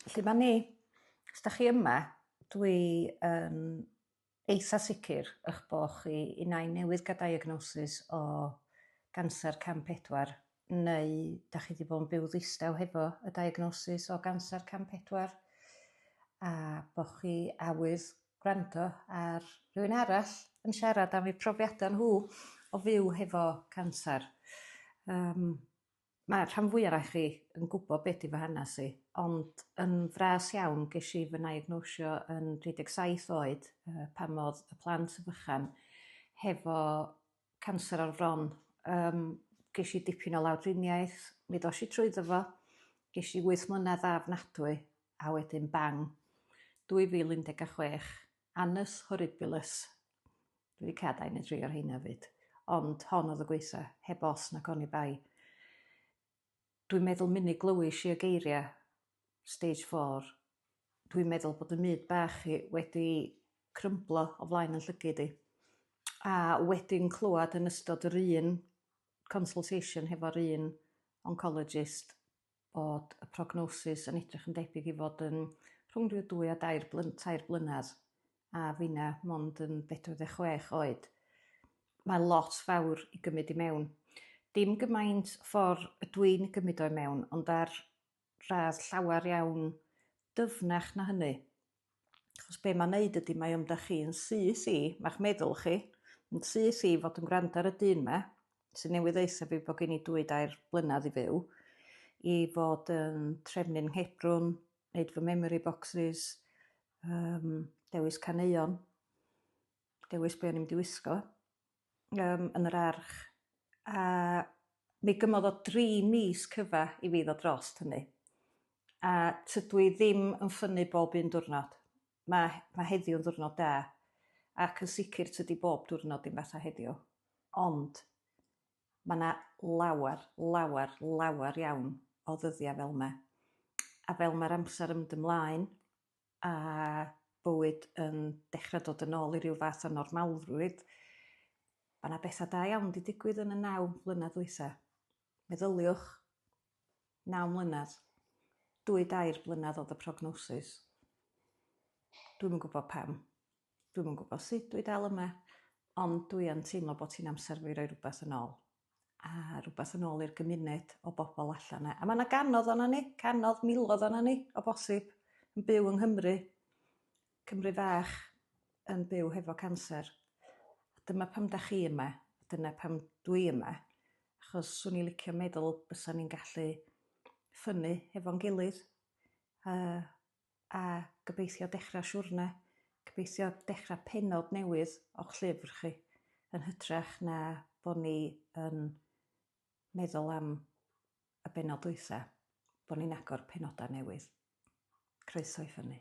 Felly ma' ni, os 'dach chi yma, dwi yn eitha sicr 'ych bo' chi unai newydd ga'l diagnosis o ganser cam pedwar neu 'dach chi 'di bod yn byw ddistaw hefo y diagnosis o ganser cam pedwar, a bo' chi awydd gwrando ar rywun arall yn siarad am eu profiada' nhw o fyw hefo canser. Yym. Ma' rhan fwya onoch chi yn gwbo be' 'di fy hanas i ond yn fras iawn gesh i fy naignosio yn dri deg saith oed yy pan odd y plant yn fychan hefo canser o'r fron yym gesh i dipyn o lawdriniaeth mi ddosh i trwyddo fo gesh i wyth mlynadd dda ofnadwy a wedyn bang. Dwy fil un deg a chwech annus horribilis. Dwi 'di cadael neud rhei o rheina 'fyd. Ond hon oedd y gwaetha, heb os nac oni bai. Dwi'n meddwl munud glywais i y geiria stage four, dwi'n meddwl bod y myd bach i wedi crymblo o flaen yn llygid i. A wedyn clywed yn ystod yr un consultation hefo'r un oncologist bod y prognosis yn edrych yn debyg i fod yn rhwng ryw dwy a dair blyn- tair blynedd, a finna mond yn 46 oed. Mae lot fawr i gymryd i mewn. Dim gymaint ffordd y dwi'n gymryd o i mewn, ond ar radd llawer iawn dyfnach na hynny. Achos be' ma'n neud ydi mae o'm 'da chi yn syth i, ma'ch meddwl chi, yn syth i fod yn gwrando ar y dyn 'ma sy newydd ddeutha fi bo' gen i dwy dair blynadd i fyw, i fod yn trefnu'n nghebrwn, neud fy memory boxes, yym dewis caneuon, dewis be' o'n i mynd i wisgo. yym yn yr arch a mi gymodd o dri mis cyfa i fi ddod drost hynny a tydw i ddim yn ffynnu bob un diwrnod. Ma' h- ma' heddiw'n ddiwrnod da ac yn sicir tydi bob diwrnod ddim fatha heddiw ond ma' 'na lawer lawer lawer iawn o ddyddia' fel 'ma a fel ma'r amser yn mynd ymlaen a bywyd yn dechra' dod yn ôl i ryw fath o normalrwydd ma' 'na betha' da iawn 'di digwydd yn y naw mlynadd ddwytha'. Meddyliwch, naw mlynadd, dwy dair blynadd odd y prognosis. Dwi'm yn gwbo pam. Dwi'm yn gwybod sut dwi dal yma, ond dwi yn teimlo bod hi'n amser i fi roi rhywbeth yn ôl. A rhywbeth yn ôl i'r gymuned o bobl allan 'na. A mae 'na ganodd o'na ni, canodd, milodd o'na ni o bosib, yn byw yng Nghymru, Cymru fach, yn byw hefo canser. Dyma pam 'dach chi yma, dyna pam dwi yma, achos swn i'n licio meddwl bysan ni'n gallu ffynnu hefo'n gilydd a a gobeithio dechrau siwrne, gobeithio dechrau pennod newydd o'ch llyfr chi, yn hytrach na bod ni yn meddwl am y bennod dwytha, bod ni'n agor pennodau newydd. Croeso i ffynnu.